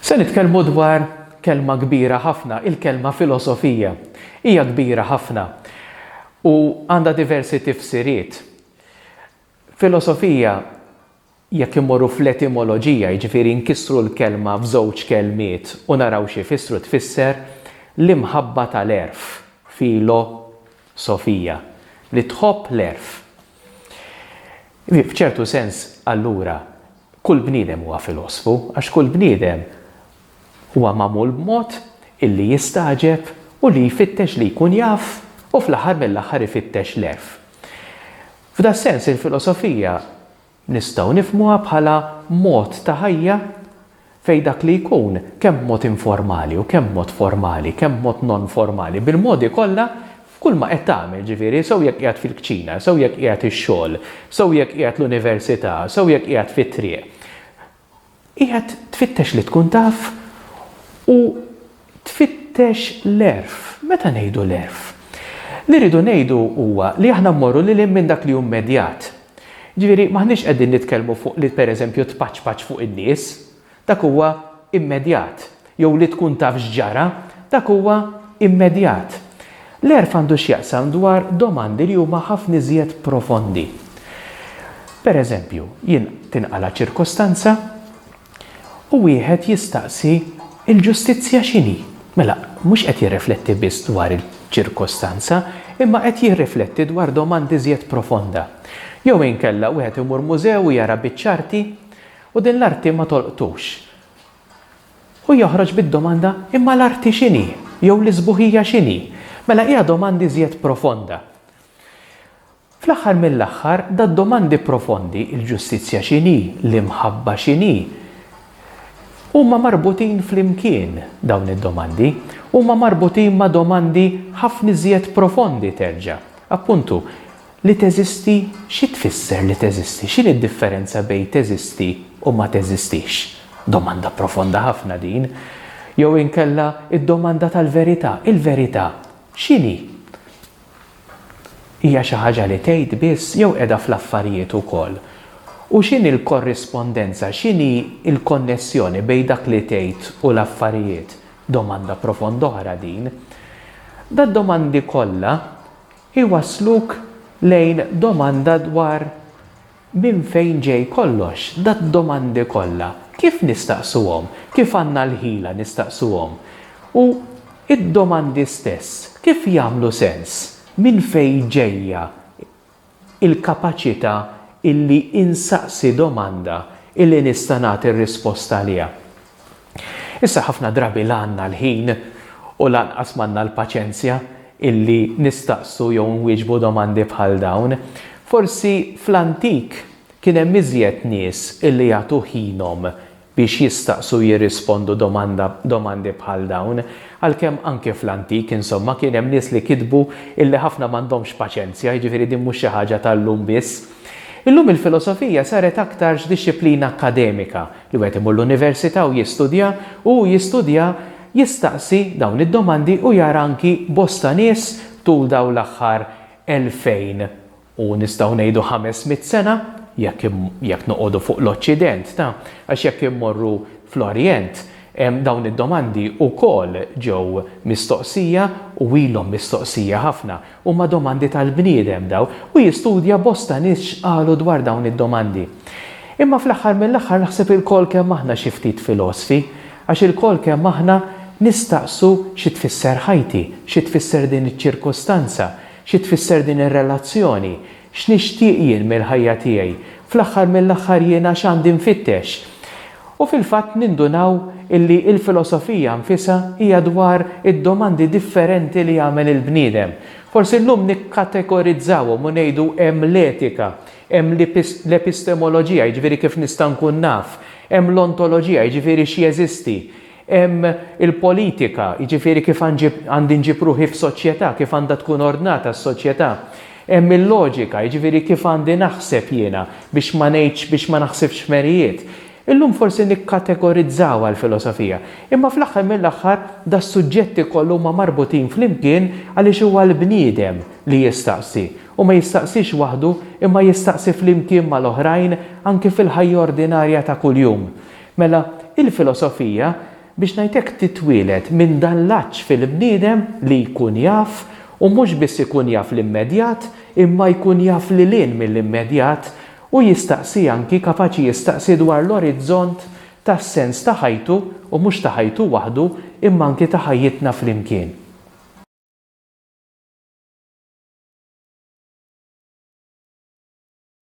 Se nitkellmu dwar kelma kbira ħafna, il-kelma filosofija. Hija kbira ħafna u għandha diversi tifsiriet. Filosofija jekk imorru fl-etimoloġija, jiġifieri nkissru l-kelma f'żewġ kelmiet u naraw xi jfissru tfisser l-imħabba tal-għerf, filo sofija, li tħobb l-għerf. F'ċertu sens, allura, kull bniedem huwa filosfu, għax kull bniedem huwa magħmul b'mod illi jistagħġeb u li jfittex li jkun jaf u fl-aħħar mill-aħħar ifittex l-għerf. F'das-sens il-filosofija nistgħu nifhmuha bħala mod ta' ħajja fejn dak li jkun, kemm b'mod informali u kemm b'mod formali, kemm b'mod non-formali, bil-modi kollha, f'kull ma qed tagħmel, ġifieri, sew jekk qiegħed fil-kċina, sew jekk qiegħed ix-xogħol, sew jekk qiegħed l-università, sew jekk qiegħed fit-triq, qiegħed tfittex li tkun taf u tfittex l-għerf. Meta ngħidu l-għerf, li rridu ngħidu huwa li aħna mmorru lil hinn minn dak li hu mmedjat. Jiġifieri m'aħniex qegħdin nitkellmu fuq li pereżempju tpaċpaċ fuq in-nies, dak huwa immedjat, jew li tkun taf x'ġara, dak huwa immedjat. L-għerf għandu x'jaqsam dwar domandi li huma ħafna iżjed profondi. Pereżempju, jien tinqala' ċirkostanza, U wieħed jistaqsi, il-ġustizzja x'inhi? Mela, mhux qed jirrifletti biss dwar il-ċirkostanza, imma qed jirrifletti dwar domanda iżjed profonda. Jew inkella wieħed imur mużew u jara biċċa arti, u din l-arti ma tolqtux. U joħroġ bid-domanda, imma l-arti x'inhi? Jew l-isbuħija x'inhi? Mela hija domanda iżjed profonda. Fl-aħħar mill-aħħar, dad-domandi profondi, il-ġustizzja x'inhi, l-imħabba x'inhi, huma marbutin flimkien, dawn id-domandi. Huma marbutin ma' domandi ħafna iżjed profondi terġa'. Appuntu, li teżisti xi tfisser li teżisti? X'inhi d-differenza bejn teżisti u ma teżistix? Domanda profonda ħafna din. Jew inkella d-domanda tal-verità, il-verità x'inhi? Hija xi ħaġa li tgħid biss jew qiegħda fl-affarijiet ukoll? U x'inhi l-korrispondenza, x'inhi l-konnessjoni bejn dak li tgħid u l-affarijiet? Domanda profonda oħra din. Dad-domandi kollha jwassluk lejn domanda dwar Minn fejn ġej kollox, dad-domandi kollha? Kif nistaqsuhom? Kif għandna l-ħila nistaqsuhom? U d-domandi stess, kif jagħmlu sens? Minn fejn ġejja l-kapaċità illi insaqsi domanda illi nista' nagħti r-risposta għaliha? Issa ħafna drabi la għandna l-ħin u lanqas m'għandna l-paċenzja illi nistaqsu jew inwieġbu domandi bħal dawn. Forsi fl-antik kien hemm iżjed nies illi jagħtu ħinhom biex jistaqsu u jirrispondu domanda domandi bħal dawn, għalkemm anke fl-antik, insomma, kien hemm nies li kitbu illi ħafna m'għandhomx paċenzja, jiġifieri din mhux xi ħaġa tal-lum biss. Illum il-filosofija saret aktarx dixxiplina akkademika, li wieħed imur l-università u jistudja, u hu jistudja jistaqsi dawn id-domandi u jara anki bosta nies tul dawn l-aħħar elfejn u nistgħu ngħidu ħames mitt sena, jekk jekk noqogħdu fuq l-Oċċident, ta, għax jekk immorru fl-Orjent, dawn id-domandi wkoll ġew mistoqsija u ilhom mistoqsija ħafna. Huma domandi tal-bniedem dawn, u jistudja bosta nies x'qalu dwar dawn id-domandi. Imma fl-aħħar mill-aħħar naħseb ilkoll kemm aħna xi ftit filosfi, għax ilkoll kemm aħna nistaqsu xi tfisser ħajti, xi tfisser din iċ-ċirkustanza, xi tfisser din ir-relazzjoni, X'nixtieq jien mill-ħajja tiegħi? Fl-aħħar mill-aħħar jiena x'għandi nfittex? U fil-fatt nindunaw illi l-filosofija nfisha hija dwar id-domandi differenti li jagħmel il-bniedem. Forsi llum nikkategorizzawhom u ngħidu hemm l-etika, hemm l-epistemoloġija, jiġifieri kif nista' nkun naf, hemm l-ontoloġija, jiġifieri x'jeżisti, Hemm il-politika, jiġifieri kif għandi nġib ruħi f'soċjetà, kif għandha tkun ordnata s-soċjetà. Hemm il-loġika, jiġifieri kif għandi naħseb jiena biex ma ngħidx, biex ma naħsibx f'merijiet. Illum forsi nikkategorizzawha l-filosofija. Imma fl-aħħar mill-aħħar das-suġġetti kollha huma marbutin flimkien għaliex huwa l-bniedem li jistaqsi. U ma jistaqsix waħdu imma jistaqsi flimkien mal-oħrajn anki fil-ħajja ordinarja ta' kuljum. Mela, il-filosofija, biex ngħid hekk, titwieled minn dan l-għatx fil-bniedem li jkun jaf, u mhux biss ikun jaf l-immedjat, imma jkun jaf lil hinn mill-immedjat, u jistaqsi anki, kapaċi jistaqsi dwar l-orizzont tas-sens ta' ħajtu, u mhux ta' ħajtu waħdu, imma anki ta' ħajjitna flimkien.